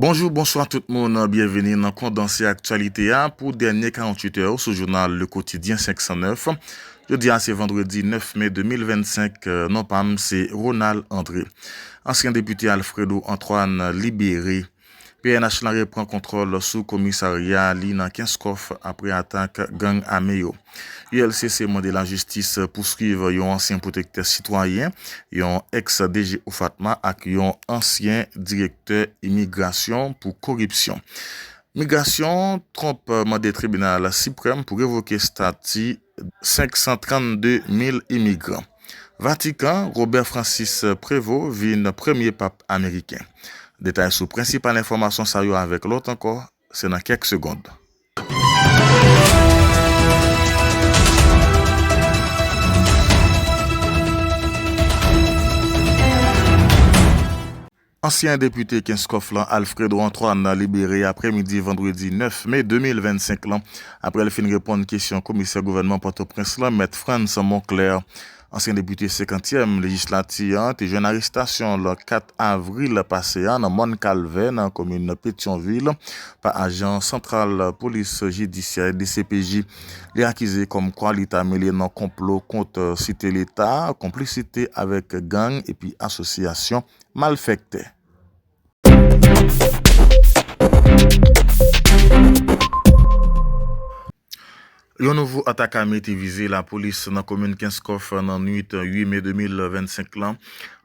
Bonjou, bonswa tout moun, byenveni nan kondanse aktyalite a pou dènye 48 è sou jounal Le Quotidien 509. Jodi a se vandredi 9 me 2025, non pa m se Ronald André. Ansyen depite Alfredo Antoine libere. Pnh lan repran kontwòl sou komisarya li nan Kenskòf apre atak gang ame yo. ULCC mande lajistis pouswiv yon ansyen pwotektè sitwayen, yon ex DG OFATMA ak yon ansyen direktè imigrasyon pou koripsyon. Migrasyon, Trump mande tribinal siprèm pou revoke stati 532 mil imigran. Vatikan, Robert Francis Prévot vin premye Pap Ameriken. Detay sou prensipal enfòmasyon sa yo avèk lòt ankò se nan kèk segond. Ansyen depite Kenskòf lan Alfredo Antoine libere aprè midi vandredi 9 me 2025 lan aprè l fin reponn kesyon komisè gouvènman Pòtoprens lan mèt Frantz Monclair. Ansyen depite senkantyèm lejislati an te jwenn arestasyon l 4 avril pase a nan Mòn Kalvè nan komin Petyonvil pa ajan santral polis jidisyè, dcpj, li akize kòmkwa li ta mele nan konplo kont site leta, konplisite avèk gang epi asosyasyon. malfèktè. Yon nouvo atak ame te vize lapolis nan komin Kenskòf nan nwit 8 me 2025 lan.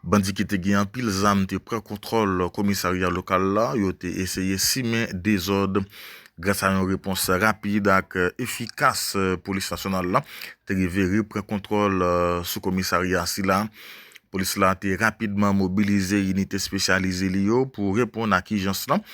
Bandi ki te gen anpil zam te pran kontwòl komisarya lokal la. Yo te eseye simen dezòd. Gras a yon repons rapid ak efikas polis nasyonal la te rive repran kontwòl sou komisarya sila. Polis la te rapidman mobilize inite espesyalize li yo pou reponn ak ijans lan.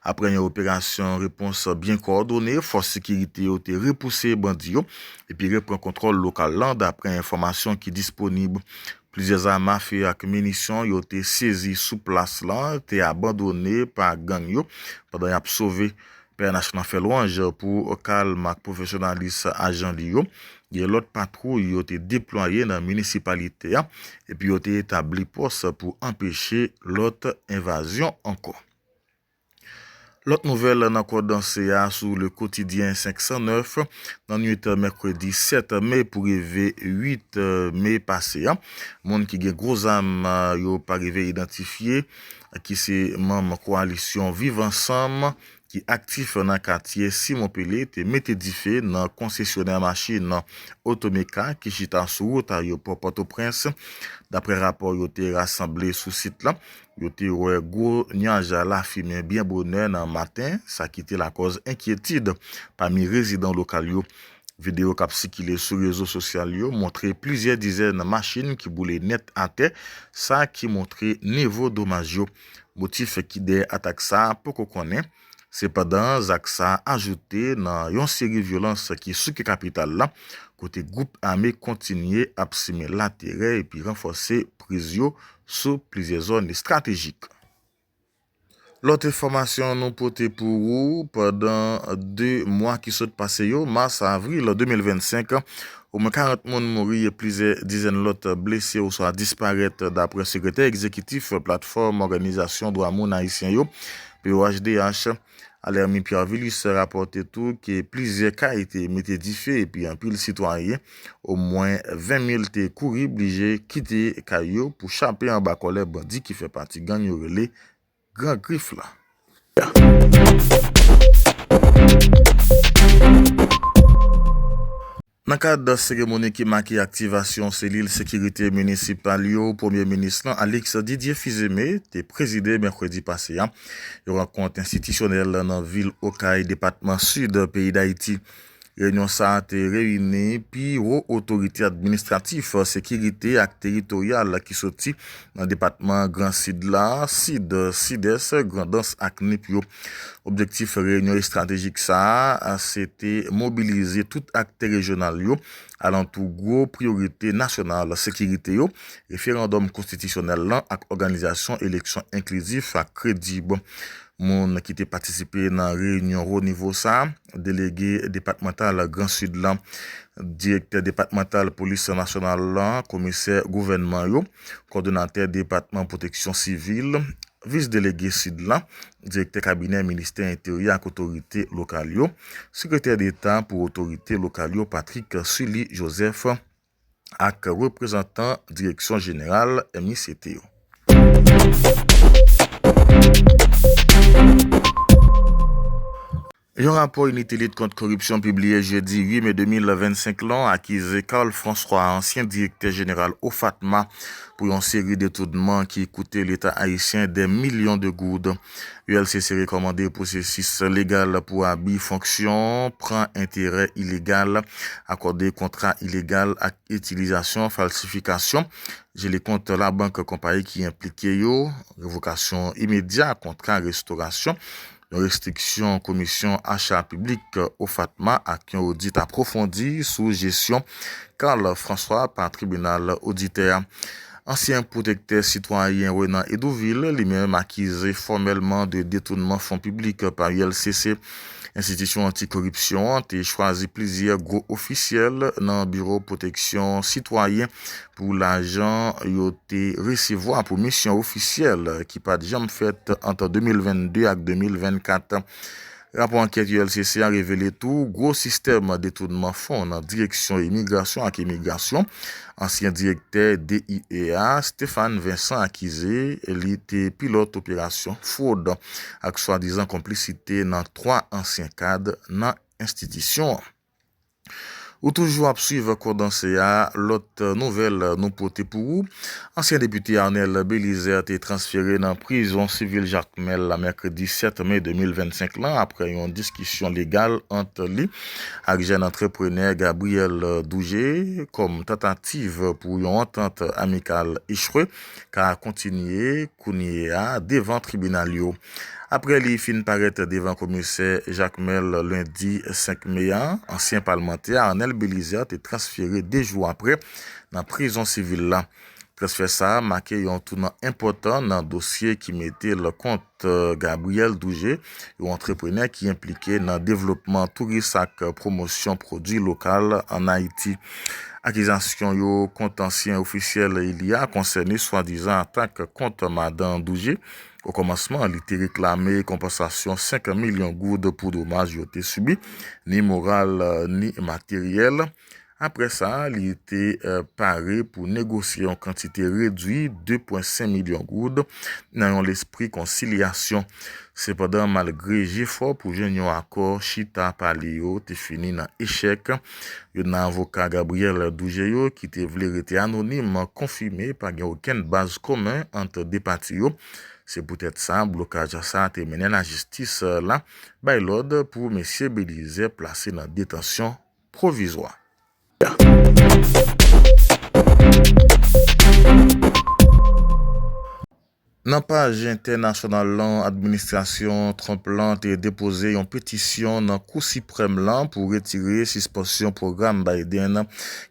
Aprè yon operasyon repons byen kowòdone, fòs sekirite yo te repouse bandi yo epi repran kontwòl lokal lan. Daprè enfòmasyon ki disponib, plizyè zam afe ak minisyon yo te sezi sou plas lan te abandone pa gang yo pandan y ap sove Pnh lan fè lwanj pou kalm ak pwofesyonalis ajan li yo, gen lòt patwouy yo te deplwaye nan minisipalite a epi yo te etabli pòs pou anpeche lòt envazyon ankò. Lòt nouvèl nan Kondanse a sou Le Quotidien 509, nan nwit mèkredi 7 me pou rive 8 me pase a, moun ki gen gwo zam yo pa rive idantifye ki se manm koalisyon Viv Ansanm ki aktif nan katye Simon Pele te mete dife nan konsesyonè machin Otomeka ki chita sou wout ayewopò Pòtoprens. Daprè rapò yo te rasanble sou sit la, yo te wè gwo nyaj lafimen byen bonè nan maten, sa ki te lakòz enkyetid pami rezidan lokal yo. Videyo k ap sikile sou rezo sosyal yo montre plizyè dizèn machin ki boule nèt atè, sa ki montre nivo domaj yo. Motif ki dèyè atak sa poko konnen. Sepandan, zak sa ajoute nan yon seri vyolans ki souke kapital la, kote gwoup ame kontinye ap simen laterè epi ranfòse priz yo sou plizyè zòn estratejik. Lòt enfòmasyon nou pote pou ou, pandan 2 mwa ki sot pase yo, mas a avril 2025, omwen 40 moun mouri e plizyè dizèn lòt blese oswa disparèt, daprè sekretè egzekitif Platfòm Òganizasyon Dwa Moun Ayisyen yo, POHDH, Alermi Pierre-Vilus rapòte tou ke plizyè kay te mete dife epi anpil sitwayen, omwen 20 mil te kouri blije kite kay yo pou chape anba kòlè bandi ki fè pati gang yo rele Gran Grif la. Nan kad seremoni ki make aktivasyon selil sekirite minisipal yo, Premye Minis lan, Alix Didier Fils-Aimé, te prezide mèkredi pase a, yon rankont enstitisyonèl nan vil Okay, depatman Sid, peyi Dayiti. Reyinyon sa a te reyini pi wo otorite administratif, sekirite ak teritoryal ki soti nan depatman Gran Sid la, Sid, Sidès, Grandans ak Nip yo. Objektif reyinyon estratejik sa a se te mobilize tout aktè rejyonal yo alantou gwo priyorite nasyonal sekirite yo, referandòm konstitisyonèl lan ak òganizasyon eleksyon enklizif ak kredib. Moun ki te patisipe nan reyinyon wo nivo sa a, Delege depatmantal Gran Sid lan, Direktè depatmantal Polis nasyonal lan, Komisè gouvènman yo, Kòdonatè depatman Pwoteksyon sivil, Vis Delege Sid la, Direktè Kabinè Ministè Enteryè ak Otorite Lokal yo, Sekretè Deta pou Otorite Lokal yo Patrick Sully Joseph ak reprezantan Direksyon Jeneral MICT yo. Yon rapò Inite lit kont koripsyon pibliye jedi 8 me 2025 lan akize Carl François, ansyen direktè jeneral OFATMA, pou yon seri detounman ki koute leta ayisyen dè milyon de goud. ULCC rekòmande pwosesis legal pou abi fonksyon, pran enterè ilegal, akòde kontra ilegal ak itilizasyon falsifikasyon jele kont labank konpayi ki enplike yo, revokasyon imedya kontra restorasyon Yon restriksyon komisyon acha piblik OFATMA ak yon odit apwofondi sou jesyon Carl François pa tribinal oditè a. Ansyen pwotektè sitwayen Renan Hédouville li menm akize fòmèlman de detounman fon piblik pa ULCC. Enstitisyon anti koripsyon an te chwazi plizyè gwo ofisyèl nan biwo pwoteksyon sitwayen Pou lajan yo te resevwa pou misyon ofisyèl ki pa t janm fèt ant 2022 ak 2024. Rapò ankèt ULCC a revele tou gwo sistèm detounman fon nan Direksyon Imigrasyon ak Emigrasyon. Ansyen direktè DIE a, Stéphane Vincent akize li te pilòt operasyon fwod ak swadizan konplisite nan 3 ansyen kad nan enstitisyon an. Ou toujou ap swiv Kondanse a, lòt nouvèl nou pote pou ou, Ansyen depite Arnel Belizaire te transfere nan prizon sivil Jakmèl la mèkredi 7 me 2025 lan aprè yon diskisyon legal ant li ak jèn antreprenè Gabriel Dougé kòm tantativ pou yon antant amikal echwe ka kontinye kounye a devan tribinal yo. Aprè li fin parèt devan komisè Jakmèl lendi 5 me a, ansyen palmantè Arnel Bélizaire te transfere 2 jou aprè nan prizon sivil la. Transfè sa a make yon tounan enpòtan nan dosye ki mete l kont Gabriel Dougé, yon antreprenè ki enplike nan devlopman touris ak pwomosyon pwodui lokal an Ayiti. Akizasyon yo kont ansyen ofisyèl eli a konsène swadizan atak kont madan Dougé, Okòmansman, li te reklame konpansasyon 5 milyon goud pou domaj yo te sibi, ni moral ni materyèl. Apre sa, li te pare pou negosye yon kantite redwi 2,5 milyon goud nan yon lespri konsilyasyon. Sepandan, malgre jefò pou jwenn yon akò chita pale yo te fini nan echèk, Youn nan avoka Gabriel Dougeio ki te vle rete anonim konfime pa gen okenn baz komen ant 2 pati yo. Se poutèt sa blokaj sa a te mennen lajistis la bay lòd pou mesye Belizaire plase nan detansyon pwovizwa. Nan paj entènasyonal lan, administrasyon Trump lan te depoze yon petisyon nan Kou Siprèm lan pou retire sispansyon pwogram Biden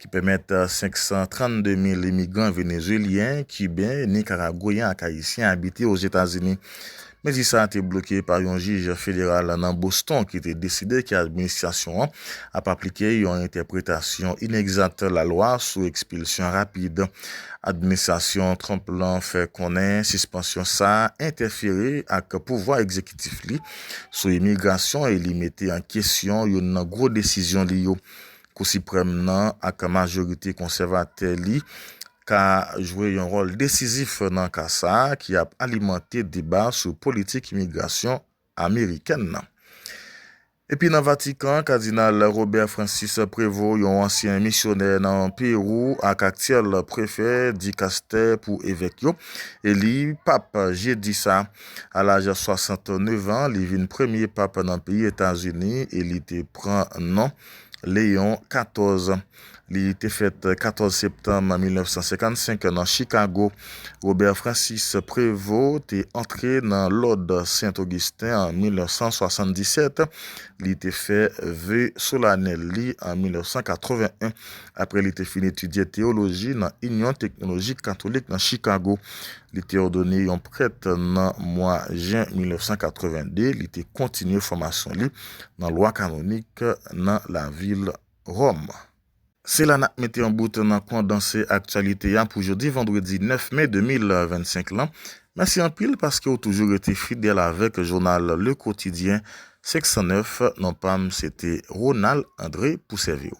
ki pèmèt 532 mil imigran Venezuelyen, Kiben, Nikaragweyen ak Ayisyen abite Ozetazini. Mezi sa a te bloke pa yon jij federal nan Boston ki te deside ke administrasyon an ap aplike yon entèpretasyon inegzat lalwa sou ekspilsyon rapid. Administrasyon Trump lan fè konnen sispansyon sa a entèfere ak pouvwa egzekitif li sou imigrasyon e li mete an kesyon youn nan gwo desizyon li yo. Kou Siprèm nan ak majorite konsèvatè li ka jwe yon wòl desizif nan ka sa a ki ap alimante deba sou politik imigrasyon amerikèn nan. Epi nan Vatikan, Kadinal Robert Francis Prévot, yon ansyen misyonè nan Perou ak aktyèl prefè dikastè pou evèk yo, eli pap jedi sa. A laj 69 an, li vin premye pap nan peyi Etazini e li te pran non Léon 14. Li te fèt 14 septanm 1955 nan Chikago, Robert Francis Prévost te antre nan lòd Sen Ogisten an 1977. Li te fè ve solanèl li an 1981 apre li te fin etidye teyoloji nan Inyon Teknolojik Katolik nan Chikago. Li te òdone yon prèt nan mwa jen 1982. Li te kontinye fòmasyon li nan lwa kanonik nan lavil Rome. Se la nap mete yon bout nan kondanse aktyalite a pou jodi vandredi 9 me 2025 lan. Mèsi anpil paske ou toujou rete fidèl avèk jounal Le Quotidien 509, non pa m se te Ronald André pou sèvi w.